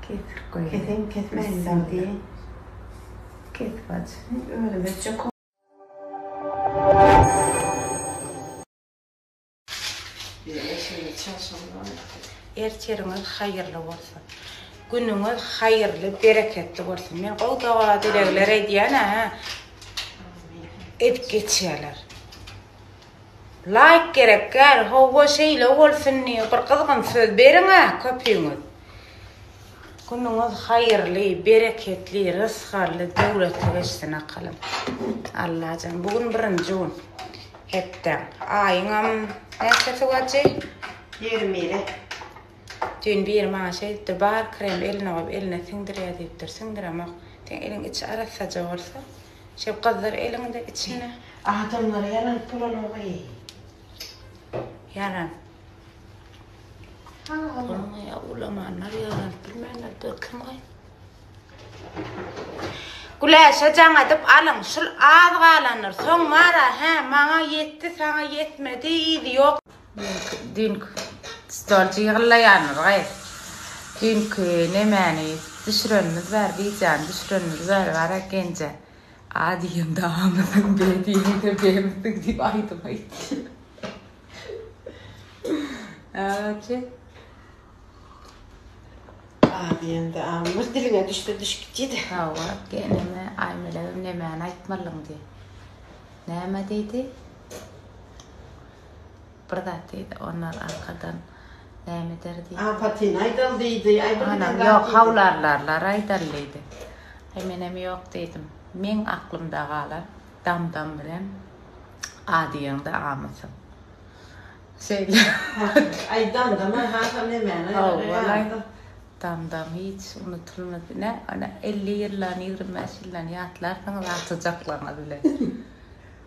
Kesip goýaý. Keseýin kesmäýin dagy diýeýin. Kesip aç. Özüm etjek. Ertiriňiz haýyrly bolsun. Günüňiz haýyrly bereketli bolsun. Men gowy doga dilegler edýän hä. Edip geçýäler. Laýk gerek däl howwa şeýle bolsun diýiň bir gyzgyn söz beriňä köpüňiz. Günüňiz haýyrly, bereketli, rysgally, döwletli geçsin akalym. Allajan bu gün birinji gün. Hepdäň, aýyňam näçesi wajy? Ýigrimi biri. Düýn biri maňa şeý diýipdir, bar krem eline goýup eline siňdirýär diýipdir, siňdiremok. Seň eliň içi arassaja bolsa, Şo gyzlar eliňde içinde. Adamlara ýalanyp bolanok-eý. Ýalan. Bolmaýar, ulamanlar ýalanyp bilmänler dur kim-ä? Güläşe jaň edip alyň, şul az galandyr, soň bar-a, hä, maňa ýetdi, saňa ýetmedi, yzy ýok. Düýnki stol jygyrlaýandyr gaý. Düýnki nemäni düşürenimiz bar, wideony düşürenimiz bar, bar ekenje. A diýemde amysyň, B diýemde B'misiň diýip aýdym aýtdy. Aje. A diýende amyr diliňe düşse düşüp gitdi-de. Hawa, geneme Aýmelegem nemäni aýtmalyň diýdi. Näme diýdi? Bir zat diýdi, Onlar arkadan näme eder diýdi. Apatyny aýdaly diýdi. Aý bir giden zat diýdi. Ýok, hawlarlarlar aýdaly diýdi. Aý menem ýok diýdim. Meň aklymda galan Damdam bilen A diýeňde amysyň. Şeýle. Aý Damdam-a hasam nemäni aýdar. Howwalaý. Damdam hiç unutulmaz. Nä, ony elli ýyllany, ýigrimi bäş ýyllany ýatlarsyňyz atyjaklaryňyz bilen.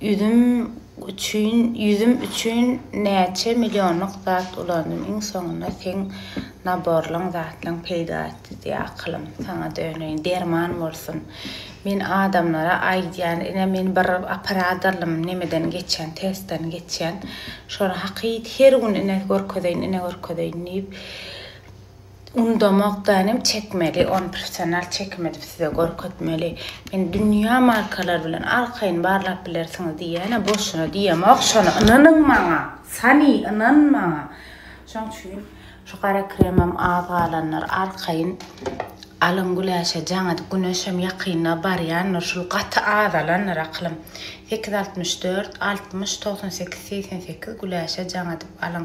Üzüm üçin ýüzüm üçin näçe milýonlyk zat ulandym iň soňunda seň naborlaň zatlaň peýda etdi diýe akylym saňa döneýin derman bolsun men adamlara aýdýan ine men bir operadorlym nemeden geçýän testden geçýän şony hakyt her gün ine görkezeýin ine görkezeýin diýip Undamokda inem çekmeli ony professional çekim edip size görkezmeli. Men dünýä markalar bilen arkaýyn barlap bilersiňiz diýýäne boşuna diýemok şony ynanyň maňa Sani ynan maňa şoň üçin şu gara kremem az galanlar arkaýyn alyň güläşe jaňat güneşem ýakynda barýandyr şul gaty azalandyr akylym sekiz altmyş dört altmyş togsan sekiz segsen sekiz güläşe jaň edip alyň.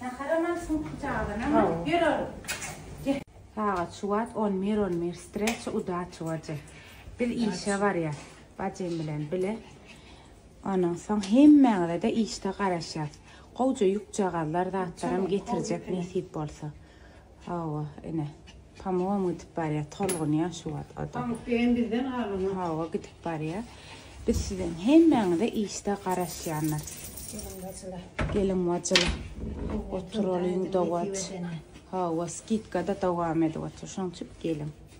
Saharamam sumka çaganama ýörün. Sagat şu wagt on bir on bir streçe udaçi bajy. Biz işe barýas bajym bilen bile. Ondan soň hemmäňizede işde garaşýas. Gowja ýükjagazlar zatlaram getirjek nesip bolsa. Hawa, ine. Pamugam gidip barýar, tolgunýar şu wagt o-da. Pamuk diýen bizden galmaz. Hawa, gidip barýar. Biz siziň hemmäňize işde garaşýanlar. Gelin-bajylar. Gelin-bajylar. Oturalyň, dowam. Hawa, skidka-da dowam edip otur. Şonuň üçin geliň.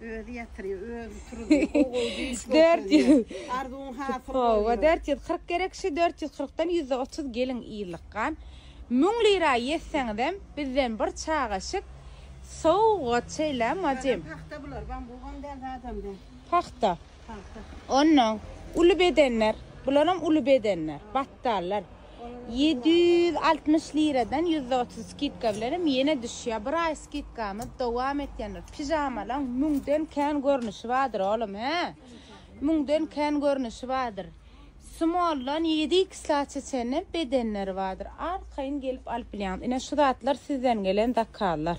Özi ýatyryýa, özi turuzyýa, gowy-gowy düýş görkezýä. Arzuwyň hasyl bolýa. Howwa, dört ýüz kyrk gerek, şu dört ýüz kyrkdan ýüzde otuz gelin ýylykgan. Müň lira ýetseňizem, bizden bir çagaşyk sowgat şeýlemi, bajym? Pagta bular, bambugam däl, zadam däl. Pagta. Pagta. Onnoň, uly bedenler, bularam uly bedenler. Gapdallar ýedi ýüz altmyş liradan ýüzde otuz skidka bilenem ýene düşýär. Bir aý skidkamyz dowam etýändir. Pižamalaň müňden kän görnüşi bardyr, oglum, hä? Müňden kän görnüşi bardyr. Smoldan ýedi ikslaça çenli bedenleri bardyr. Arkaýyn gelip alyp bilýäňiz. Ine, şu zatlar sizden gelen zakazlar.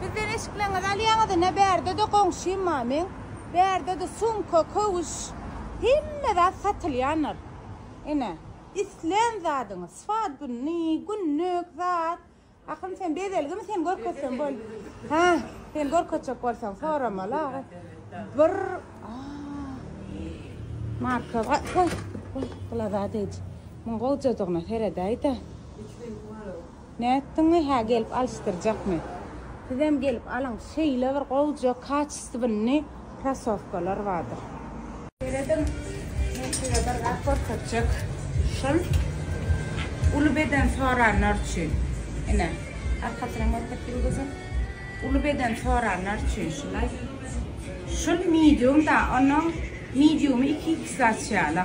Bizden eşikleňizi alýaňyz ine bärdede goňşym bar meň bärdede sumka köwüş hemme zat satylýandyr ine islän zadyňyz swat gününi günlük zat Akyn sen bezelgimi seni görkezsem bol ha seni görkezjek bolsam soramaly aga bir marka bar hoý hoý glazadej muň gowjadygyna seredäýdä. Üç reňki bar oň. Nätdiňmi hä gelip alyşdyrjakmy. Sizem gelip alyň şeýle bir gowja kaçestwynny krasowkalar bardyr. Serediň men size bir zat görkezjek şol uly beden soranlar üçin ine arkasyna görkez ýyldyzym uly beden soranlar üçin şulaý şul medium da onuň mediumy iki iks açýala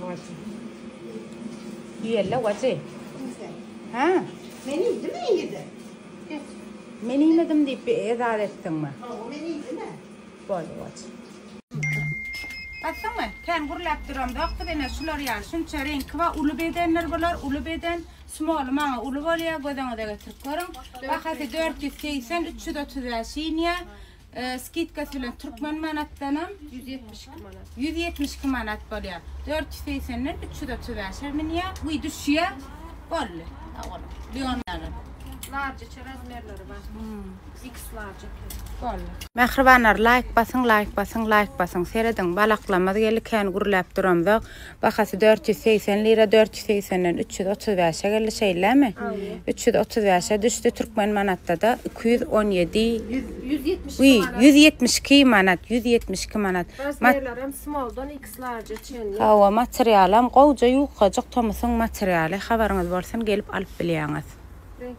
Wajy. Ýella wajy. Kimse. Ha? Men iýdim mi ýedi? Men iýmedim diýip bir ezar etdiňmi? Ha, o men iýdim ä. Boldy wajy. Basdyňmy? Kän gürläp duram zok biz ene şular ýaly şunça reňki bar uly bedenler bular uly beden smoly maňa uly bolýa gözüňize getirip görüň bahasy dört ýüz segsen üç ýüz otuz bäş iýnýä Skidka tölen türkmen manatdanam 172 manat. 172 manat bolýar. 480-den 335-e minýär. Bu düşýär. Boldy. Sag bol. Leonlaryň. Large içi razmerleri bar. X large eken. Boldy. Mähribanlar laýk basyň laýk basyň laýk basyň serediň balaklamyz geldi kän gürläp duramzok. Bahasy dört ýüz segsen lira, dört ýüz segsenden üç ýüz otuz bäşe geldi, şeýlemi? Üç ýüz otuz bäşe düşdi, türkmen manatda-da iki ýüz on ýedi, ýüz ýetmiş iki manat, ýüz ýetmiş iki manat. Razmerlerem small-dan X-large-a çenli. Hawa, materialam gowja, ýukajyk tomusyň materialy, habaryňyz bolsun, gelip alyp bilýäňiz.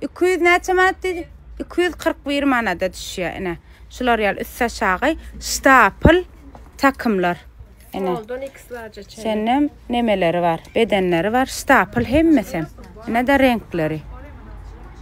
Iki ýüz näçe manat diýdi? Iki ýüz kyrk bir manada düşýär, ine. Şular ýaly üstaşagy ştapl takymlar. Ine. Smalldan X larja çenli. Şenem nemeleri bar, bedenleri bar, ştapl hemmesi. Ine-de reňkleri.